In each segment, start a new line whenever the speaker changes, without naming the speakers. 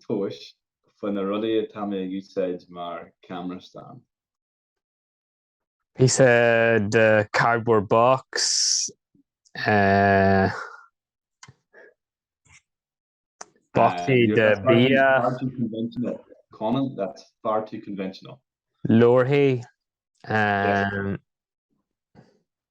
tomhais faoi na rudaí atá mé ag úsáid mar camera stand.
píosa de cardboard box, eh, bocsaí Uh, de that's far too- bia, far too conventional.
Conan, that's far too conventional. leabharthaí, eh,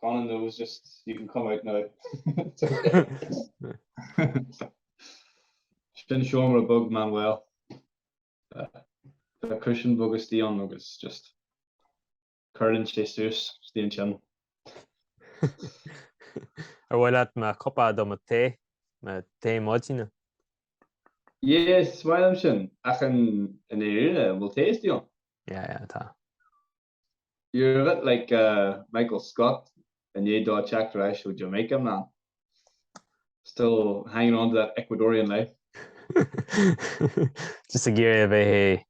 Conan knows just you can come out now. Sin seomra bog Manuel. Tá cúisín bog istigh ann agus just cuireann sé suas istigh
ansin. Ar mhaith leat mo cupa do mo tae? Mo tae
maidine? Yeah, is maith liom sin. Ach in Éirinn, an bhfuil tae istigh ann? Yeah, yeah, tá. You're a bit like Michael Scott i ndiaidh dó teacht ar ais ó Jamaica man. Still hanging on to that Ecuadorian life.
Just ag iarraidh a bheith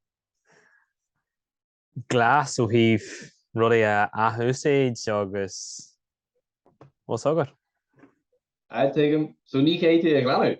glas ó thaobh rudaí a athúsáid agus bhfuil fhios agat. Aye,
tuigim. So ní chaithfidh tú a ghlanadh?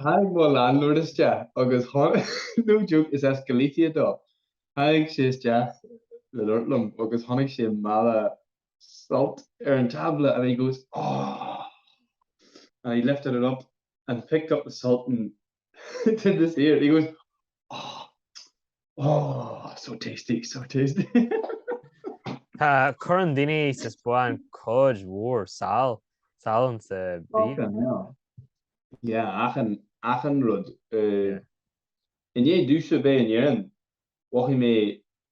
Tháinig mo landlord isteach agus no joke, is as Galicia dó, tháinig sé isteach le labhairt liom agus chonaic sé mála salt ar an tábla and he goes, Ohh! and he lifted it up and picked up the salt and did this here, he goes, Ohh! Oh, so tasty, so
tasty. Tá, cuireann daoine sa Spáinn cuid mhór sal, salann sa bhia.
Yeah, achan, achan rud. Uh, i ndiaidh domhsa a bheith in Éirinn, mhothaigh mé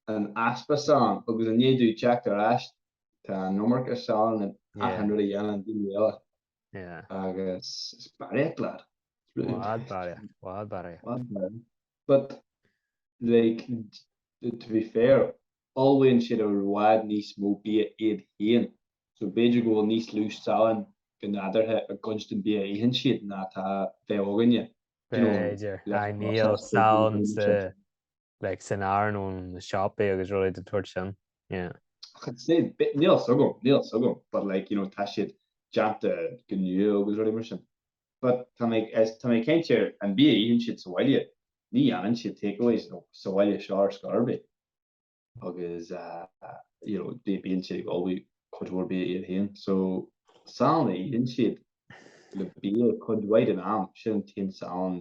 an easpa salann, agus i ndiaidh domh teacht ar ais, tá an iomarca salann in achan rud a dhéanann daoine eile.
agus
is barraíocht leat.
Bhfad barraíocht, bhfad barraíocht. Bhfad
barraíocht. But, like, to be fair, ullmhaíonn siad i bhfad níos mó bia iad féin, so b'fhéidir go bhfuil níos lú salann go nádúrtha i gcuid den bia a itheann siad ná atá, bheadh againne. B'fhéidir.
Níl salann sa like san arán ó na siopaí agus rudaí den tsórt sin, yeah. Ach it's the
same, bit, níl a fhios agam, níl a fhios agam, but like, you know, tá siad déanta go nua agus rudaí mar sin. But tá mé, as, tá mé cinnte ar an bia a itheann siad sa bhaile, ní dhéanann siad takeaways, nó sa bhaile seo ar scor ar bith, agus, ah, you know, bí, bíonn siad ag ullmhú cuid mhór bia iad féin. So, salann a itheann siad le bia cuid mhaith den am, sin an t-aon salann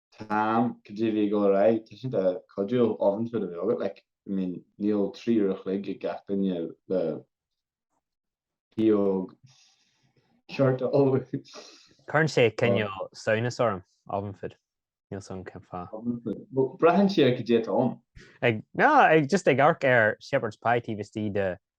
Táim go deimhin ag dul ar aghaidh. Tá siad cuidiúil, oven food a bheith agat, like, I mean, níl trí uair a chloig ag gach duine le pióg ceart a ullmhú. Cuireann
sé cineál samhnas orm, oven food, níl 's agam cén fáth. Oven food, bhuel, braitheann
sé ar cad é atá ann. Ag, no, ag,
just ag amharc ar Shepherd's Pie taobh istigh de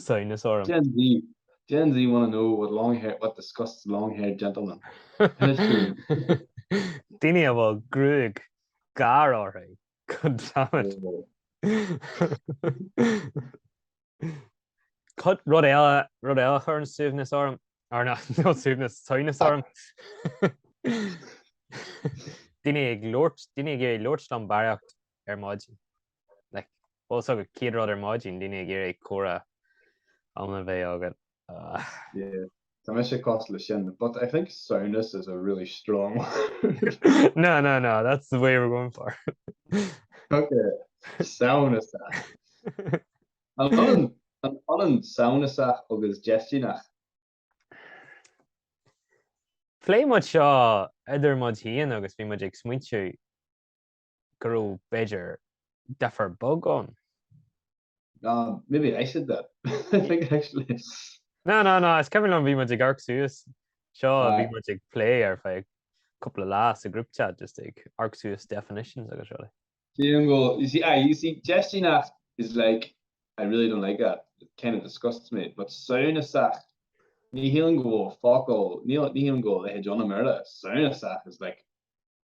Samhnas
orm. Gen Z Gen Z wanna know what long hair what disgusts long haired
gentlemen. Daoine a bhfuil gruaig gearr orthu, goddammit. Cut rud eile rud eile a chuireann suaimhneas orm, or no not suaimhneas, samhnas orm. Daoine ag labhairt daoine ag iarraidh labhairt liom barraíocht ar maidin. Also an chéad rud ar maidin daoine ag iarraidh comhrá iomlán a bheith agat.
Yeah. Tá mise cosúil le sin but I think samhnas is a really strong word. No no no
that's the way we're going for.
Ok samhnasach. An ionann an ionann samhnasach agus
déistineach? Phléigh muid seo idir muid féin agus bhí muid ag smaointiú go raibh, b'fhéidir, duifear bog ann.
No, maybe I said that, I think, actually. No, no, no,
is cuimhin liom bhí muid ag amharc suas, seo, bhí muid ag plé ar feadh cúpla lá sa group chat just ag amharc suas definitions agus rudaí. Téann go,
you see, aye, you see, déistineach is like, I really don't like that, it kind of disgusts me, but samhnasach, ní shílim go bhfuil focal, ní shílim go bhfuil a leithéid ann i mBéarla, samhnasach is like,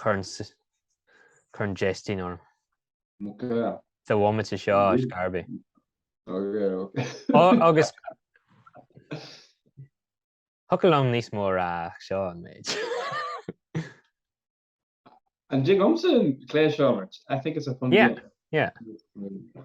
Cuireann cuireann déistin orm.
Ok. Sa bhomaite
seo a scarbí. Ok,
ok. Ó, agus
Thiocfadh liom níos mó a rá ach seo an
méid. An dtig liomsa an cluiche seo a imirt? I think it's a fun game. Yeah, yeah.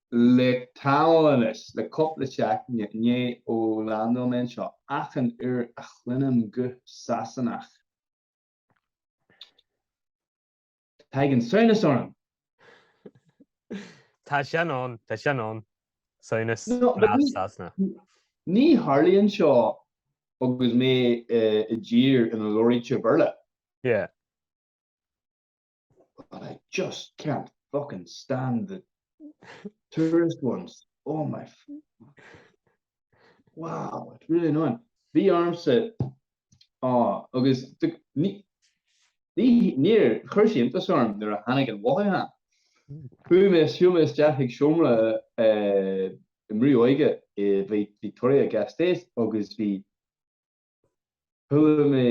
le tamall anois, le cúpla seachtaine, now ó landáil mé anseo achan uair a chluinim guth Sasanach, tagann samhnas orm.
Tá sin ann, tá sin ann, samhnas as Sasana.
Ní tharlaíonn seo agus mé i dtír ina labhraítear Béarla. Yeah. But I just can't fucking stand the tourist ones, oh my wow, it's really annoying. Bhí ormsa á agus níor chuir sé iontas orm nuair a tháinig an mhothúchán. Chuaigh mé, shiúil mé isteach chuig seomra i mbrú óige i Vitoria-Gasteiz agus bhí Chodail mé,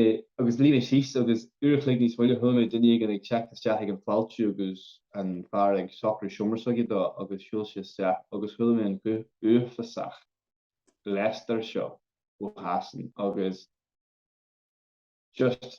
agus luigh mé síos, agus uair a chloig níos moille chuala mé duine éigin ag teacht isteach ag an fháiltiú agus an fear ag socrú seomra s'aige dó agus shiúl sé isteach agus chuala mé an uafásach Leicester seo ó Shasana agus just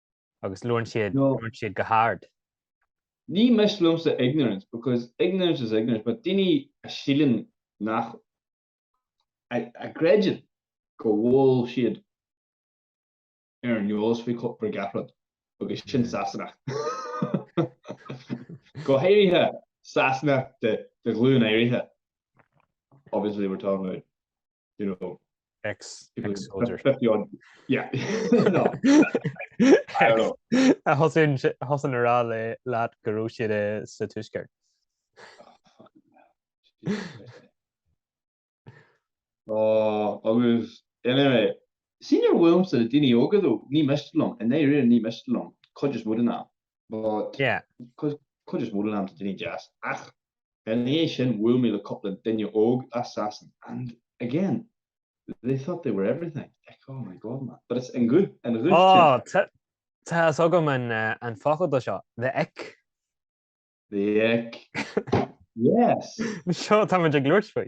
Agus labhrann siad go hard.
Ní miste liomsa ignorance, because ignorance is ignorance, but daoine a síleann nach, a gcreideann go bhfuil siad ar an eolas faoi gach rud, agus sin Sasanach. Go háirithe Sasanach de ghlúin áirithe, obviously we're talking about you know, ex-soldier. A
thosaíonn a rá leat go raibh siad sa Tuaisceart.
Agus anyway, sin ar bhuail mise, daoine óga dó, ní miste liom, i ndeireadh thiar ní miste liom, cuid is mó den am. But,
yeah, cuid
is mó den am tá daoine deas, ach ina dhiaidh sin bhuail mé le cúpla duine óg as Sasain and, again, they thought they were everything, like, oh my God, man, but it's an guth, an guth sin. Ó,
tá fhios agam an focal do seo, the ick. The
ick, yes. Seo,
táimid ag labhairt faoi.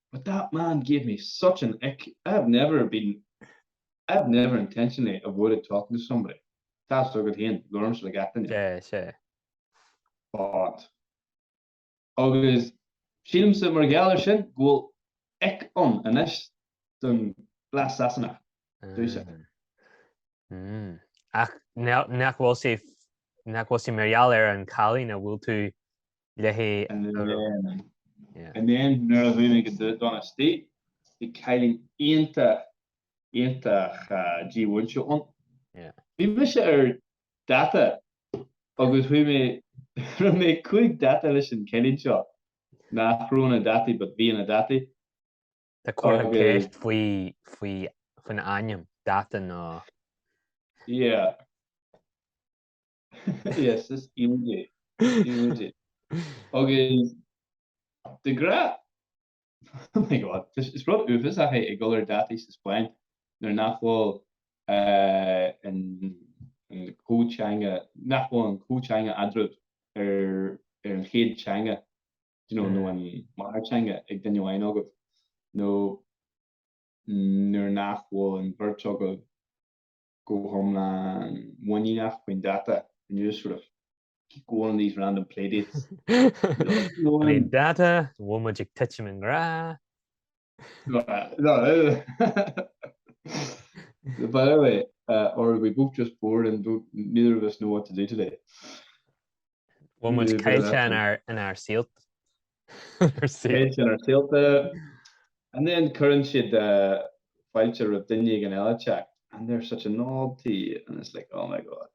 But that man gave me such an ick, I have never been, I have never intentionally avoided talking to somebody. Tá fhios agat féin, labhraímse le gach duine. Sea, sea. But. Agus sílimse, mar gheall air sin, go bhfuil ick ann anois don bhlas Sasanach, dúirt
sé. Mmm. Ach nach bhfuil sé, nach bhfuil sé mar gheall ar an chailín a bhfuil tú léithi.
And then nuair a chuaigh mé go Donostia, bhí cailín iontach, iontach dímhúinte ann. Bhí mise ar data agus chuaigh mé, rinne mé cúig data leis an chailín seo nach raibh ina dataí but bhí ina dataí.
Tá comhartha ceiste faoin ainm data nó.
Yeah. Yes, is cute é. Is cute é. Agus de ghra, oh my God, is rud uafásach é ag dul ar dhátaí sa Spáinn nuair nach bhfuil an comhtheanga, nach bhfuil an comhtheanga eadraibh ar an chéad teanga, you know, nó an mháthairtheanga ag duine amháin agaibh, nó nuair nach bhfuil an bheirt agaibh go hiomlán in ann a rá an dáta and you just sort of keep going on these random playdates. An dáta
an bhfuil muid ag titim i ngrá.
By the way, uh, or are we both just bored and neither of us know what to do today.
Bhfuil muid caillte inár saolta. Caillte inár
saolta. And then cuireann siad fáilte roimh duine éigin eile isteach and they're such a novelty and it's like oh my god.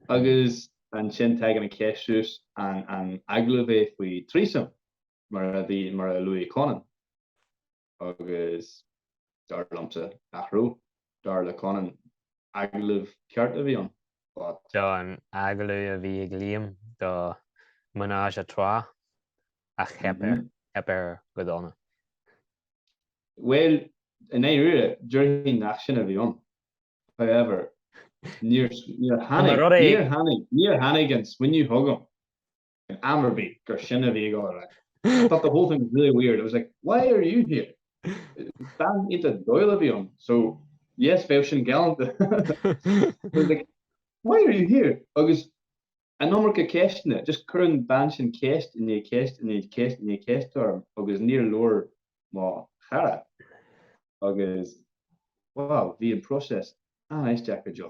Agus ansin tagann an cheist suas an agallamh é faoi choinne threesome mar a luaigh Conan. agus, dar liomsa, nach raibh. Dar le Conan, agallamh ceart a bhí ann, but.
An t-agallamh a bhí ag Liam do Menage à Trois, ach theip air go
dona. Bhuel, i ndáiríre, déarfainn nach sin a bhí ann. However, níor tháinig an smaoineamh chugam. Ag am ar bith gur sin a bhí ag gabháil ar aghaidh. I thought the whole thing was really weird, I was like, why are you here? Bean iontach dóighiúil a bhí ann, so yes, bheadh sin galánta. I was like, why are you here? Agus an iomarca ceisteanna, just chuir an bhean sin ceist i ndiaidh ceist i ndiaidh ceist i ndiaidh ceist orm agus níor leor mo chara. Agus, wow, bhí an process an-aisteach go deo.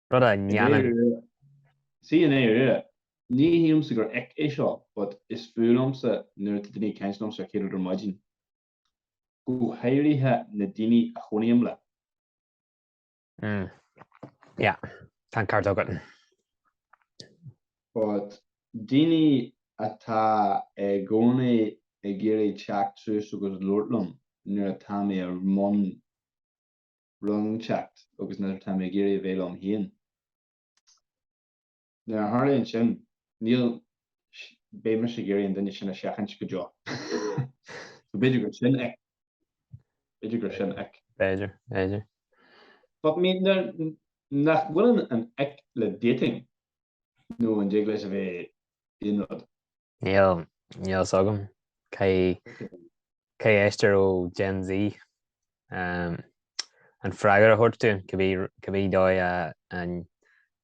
Rud
a ndéanann. Sea, i ndeireadh, ní shílimse gur ick é seo, but is fuath liomsa nuair atá daoine ag caint liomsa an chéad rud ar maidin, go háirithe na daoine a chónaím leo.
Mm. Yeah, tá an ceart
agat. But daoine atá i gcónaí ag iarraidh teacht suas agus labhairt liom nuair atá mé i mbun. rúndacht agus nuair atá mé ag iarraidh a bheith liom féin. Nuair a tharlaíonn sin, bhuel, beidh mise ag iarraidh an duine sin a sheachaint go deo. So b'fhéidir gur sin é. B'fhéidir gur sin é. B'fhéidir,
b'fhéidir.
But I mean, an bhfuil an ick le dating, nó an dtig leis a bheith aon rud? Níl,
níl 'fhios agam cé, cé a éisteann ó Gen Z. Ehm, an freagra a thabhairt dúinn, cibí, cibí dóigh a, a,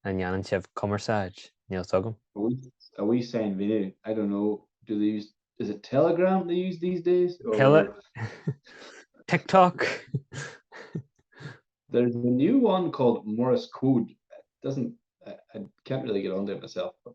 a ndéanann sibh cumarsáid, níl 'fhios agam. A wee, a wee
sign video, I don't know, do they use, is it Telegram they use these days or?
Tele,
TikTok. There's a new one called Morse Code, it doesn't, I, I can't really get onto it myself but.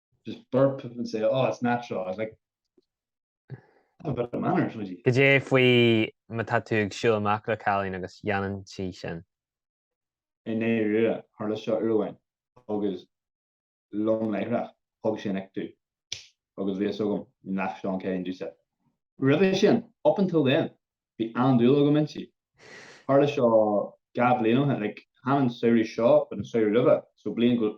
just burp and say oh it's natural I was like have a bit of manners would you? Cad é
faoi má tá tú ag siúl amach le cailín agus déanann sí sin. I
ndáiríre tharla seo uair amháin agus lom láithreach thug sé an ick domh agus bhí a fhios agam nach seo an ceann domhsa. Roimhe sin, up until then, bhí an-dúil agam inti. Tharla seo dhá bhliain ó shin, like chan an samhradh seo but an samhradh roimhe, so bliain go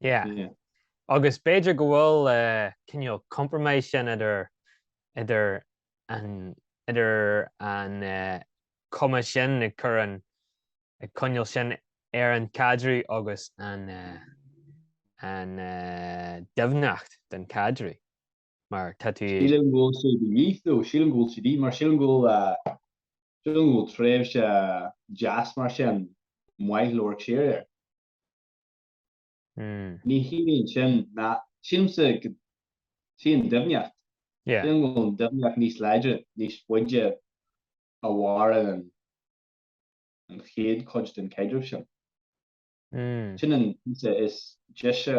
Yeah. Agus b'fhéidir go bhfuil uh, cineál compromise sin idir idir an idir an uh, cuma sin a chuireann an coinneal sin ar an caidreamh agus an uh, an uh, doimhneacht den caidreamh. Mar tá tú... Sílim go bhfuil
siad níos dó, sílim go bhfuil siad mar sílim go bhfuil uh, sílim go bhfuil tréimhse deas mar sin maith go leor séir ar. Ní hionann sin ná, sílimse, go dtí an doimhneacht. Sílim go bhfuil an doimhneacht níos láidre, níos faide a mhaireann an chéad chuid den chaidreamh sin. Sin an píosa is deise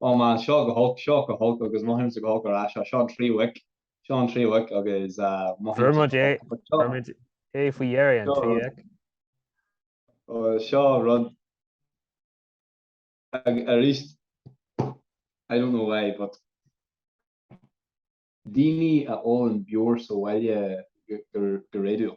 Oh man, seo go holc, seo go holc, agus mothaímse go holc ar ais, seo an tríú ick, seo an tríú ick, agus mothaímse go holc, agus
seo. Chuir muid é faoi dheireadh, an tríú ick. Seo
rud, arís, I don't know why, but daoine a ólann beoir sa bhaile go réadúil.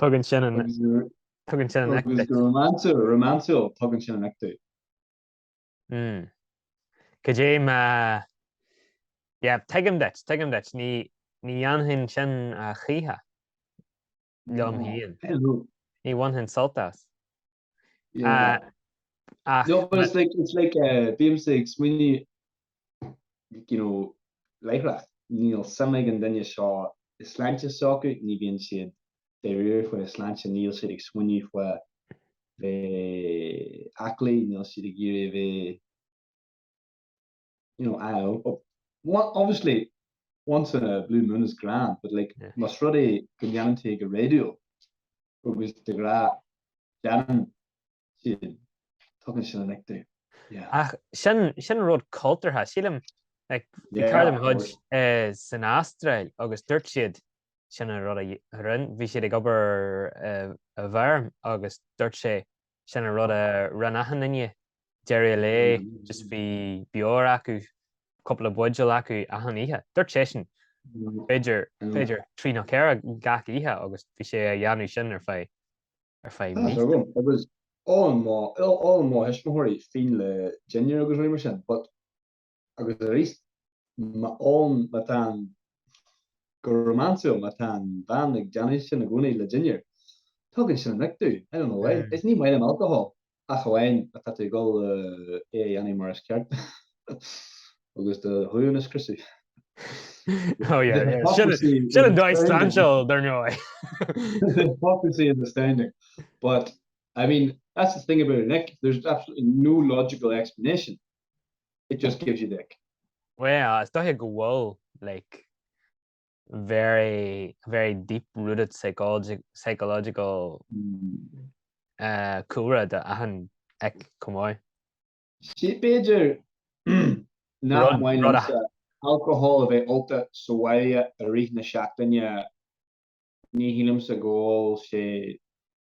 Tugann sin an ick
domh. Romance, romance, tugann sin an ick domh. Mm.
Cad é má... Yeah, tuigim duit, tuigim duit. Ní, ní dhéanfainn sin a choíche liom féin. Ní bhainfinn sult as.
No, but it's like, it's like uh, bímsa ag smaoineamh, you know, láithreach, níl suim ag an duine seo sa tsláinte s'acu, ní bhíonn siad dáiríre faoin tsláinte, níl siad ag smaoineamh faoi a bheith aclaí, níl siad ag iarraidh a bheith, you know, I don't know, oh, obviously, once in a blue moon is grand, but like, yeah. más rud é go ndéanann sé go réadúil, agus de ghnáth déanann siad, tugann sin an ick domh. Yeah. Ach
sin, sin rud cultúrtha, sílim, like, bhí yeah, cairde de mo chuid uh, eh, san Astráil agus dúirt siad sin an rud a rinn, bhí siad ag obair uh, i bhfeirm agus dúirt sé, sin an rud a rinne achan duine. D'éirigh léi, just bhí beoir acu, cúpla buidéal acu achan oíche. Dúirt seisean, b'fhéidir, b'fhéidir, trí nó ceithre gach oíche agus bhí sé a dhéanamh sin ar feadh, ar feadh mí. Tá, tá agam,
agus ólann mo, ólann mo thuismitheoirí fíon le dinnéar agus rudaí mar sin, but, Agus arís, má ólann, má tá an, go románsúil, má tá an bhean ag déanamh sin i gcónaí le dinnéar. Tugann sin an ick domh, I don't know why. Is ní maith liom alcohol, ach amháin má tá tú ag dul é a dhéanamh mar is ceart agus do ghlúin a scriosadh.
Oh yeah, yeah. Hypocrisy Should have died Sancho, don't know.
Hypocrisy is astounding. But I mean, that's the thing about an ick. There's absolutely no logical explanation it just gives you the ick.
Well, is dóiche go bhfuil, like, very, very deep-rooted psychology, psychological cúlra do achan ick chomh maith.
Sea, b'fhéidir nach maith liomsa alcohol a bheith ólta sa bhaile i rith na seachtaine, ní shílimse go bhfuil sé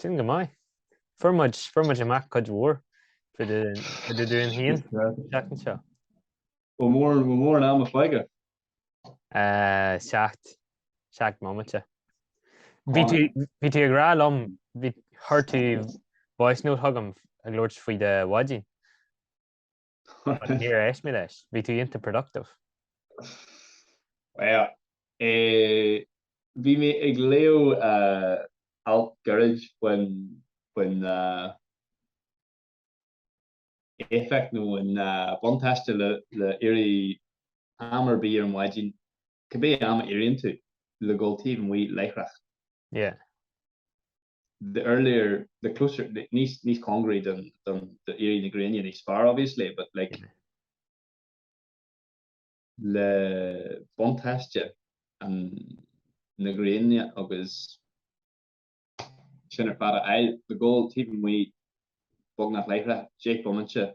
Sin go maith. Fuair muid, fuair muid amach cuid mhór fá dtaobh, fá dtaobh dúinn féin an tseachtain seo. Bhfuil mór,
bhfuil mórán ama fágtha? Eh,
seacht, seacht mbomaite. Bhí tú, bhí tú ag rá liom, bhí, chuir tú voice note chugam ag labhairt faoi do mhaidin. Níor éist mé leis. Bhí tú iontach
productive. Bhuel, bhí mé ag léamh alt gairid faoin éifeacht nó an buntáiste le éirí am ar bith ar an mhaidin, cibé am a éiríonn tú, le dul taobh amuigh láithreach. Yeah.
the
earlier, the closer, níos, níos cóngaraí don, don, do éirí na gréine, níos fearr obviously, but like, le buntáiste an, na gréine agus sin ar fad a fháil, le dul taobh amuigh, beagnach láithreach, deich bomaite.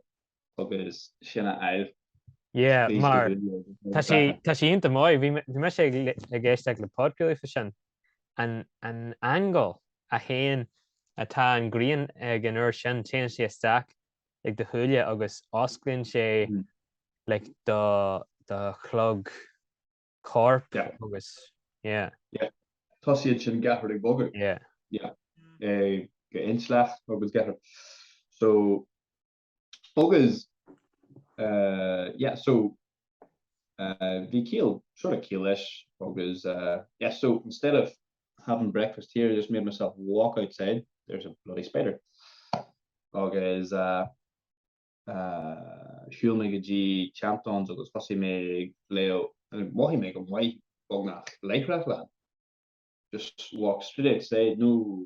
agus sin a fháil. Yeah,
mar tá sí tá sí iontach maith. Bhí mise ag éisteach le podcast fá sin an an angle a théann atá an ghrian ag an uair sin téann sé isteach ag do shúile agus osclaíonn sé like do do chlog corp agus yeah. Yeah.
Tosaíonn sin gach rud ag bogadh. Yeah. Yeah. Eh, do intleacht agus gach rud. So Agus, yeah, so, bhí ciall, sort of ciall leis agus, yeah, so, instead of having breakfast here, I just made myself walk outside, there's a bloody spider. Agus, eh, shiúil mé go dtí Champtowns agus thosaigh mé ag léamh, agus mhothaigh mé go maith beagnach, láithreach, just walk straight outside, no,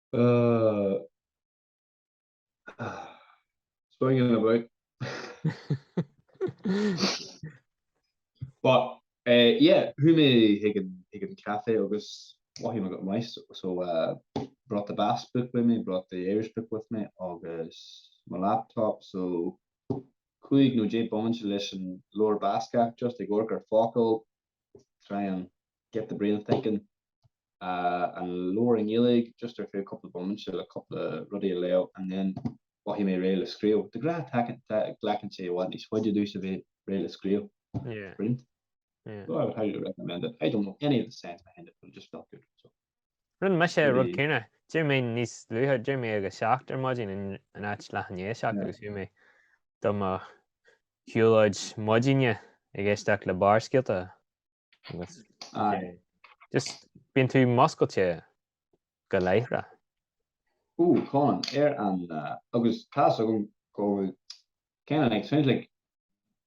Ahh. Swinging about. But eh yeah, chuaigh mé chuig an chuig an caife agus mhothaigh mé go maith. So eh brought the Basque book with me, brought the Irish book with me agus mo laptop. So cúig nó deich mbomaite leis an leabhar Bascaise just ag amharc ar focail try and get the brain thinking uh, and lower in Gaelic just ar fé couple moments le couple ruddy leo and then what he may rail screw the gra attack black and say what he's what you do should be rail screw yeah print yeah so I would
highly recommend
it I don't know any of the sense behind it but it just felt good so Rinne
mise an rud céanna. D'éirigh mé níos luaithe, d'éirigh mé ag a seacht ar maidin in áit leath i ndiaidh a seacht agus chuaigh mé do mo shiúlóid maidine ag éisteacht le Barrscéalta agus just bíonn tú muscailte go láithreach.
Ooh Colin, ar an agus tá's agam go bhfuil, cineál like, sounds like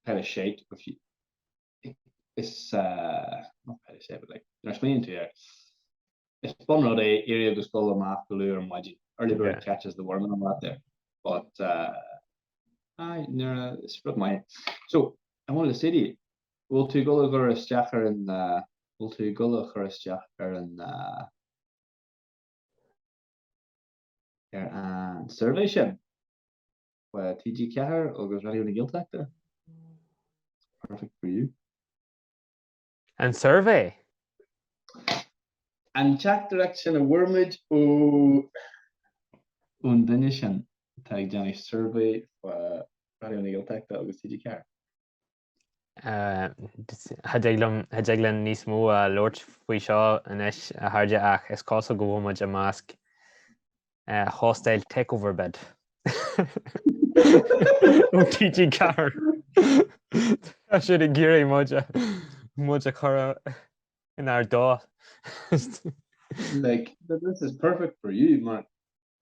pile of shite if you. is fun rud é éirí agus dul amach go luath ar maidin, early bird catches the worm and all that there, but is rud maith é. I wanted to say to you, bhfuil tú ag dul a chur isteach ar an, bhfuil tú ag dul a chur isteach ar an, ar an suirbhé sin? ar TG4 agus Raidió na Gaeltachta. Perfect for
you. An suirbhé?
An teachtaireacht sin a bhfuair muid ó an duine sin atá ag déanamh suirbhé fá Raidió na Gaeltachta agus TG4.
Cha dtig liom cha dtig linn níos mó a labhairt faoi seo anois, a chairde, ach is cosúil go bhfuil muid i measc hostile takeover bid ó TG4. Tá siad ag iarraidh muid a muid a chur inár dtost. Like, this
is perfect for you, mar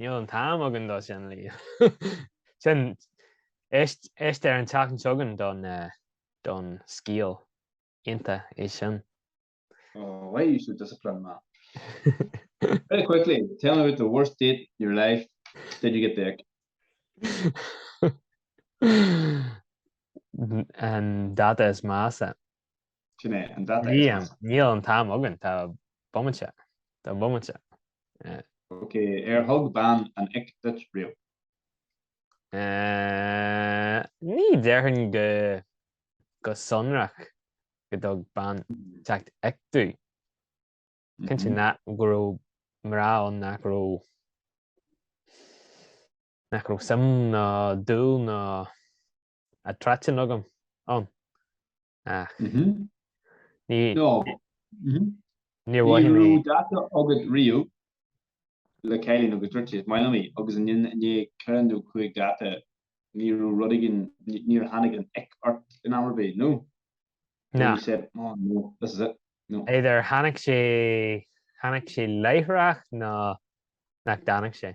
Níl an t-am
againn do sin, Liam. Éist ar an tseachtain againn don scéal ionta é sin. Oh,
why are you so disciplined, man? Very quickly, tell me about the worst date in your life, did you get the ick?
An dáta is measa.
Sin é an data. Liam, Níl an
t-am againn, tá bomaite, tá
bomaite. Ok, ar thug bean an ick duit riamh?
Ní déarfainn go sonrach go dtug bean the ick duit. Cinnte go raibh mná ann nach raibh, nach raibh suim ná dúil ná a tráithín agam ann ach ní níor mhaith mé. Ní raibh date agat
riamh le cailín agus duirt sé, is maith liom í, agus i ndiaidh ceithre nó cúig date ní raibh rud éigin, níor tháinig an ick ort in am ar bith, nó? Ná. He
said, oh
no, this is it, no. Either tháinig sé,
tháinig sé láithreach nó níor tháinig sé.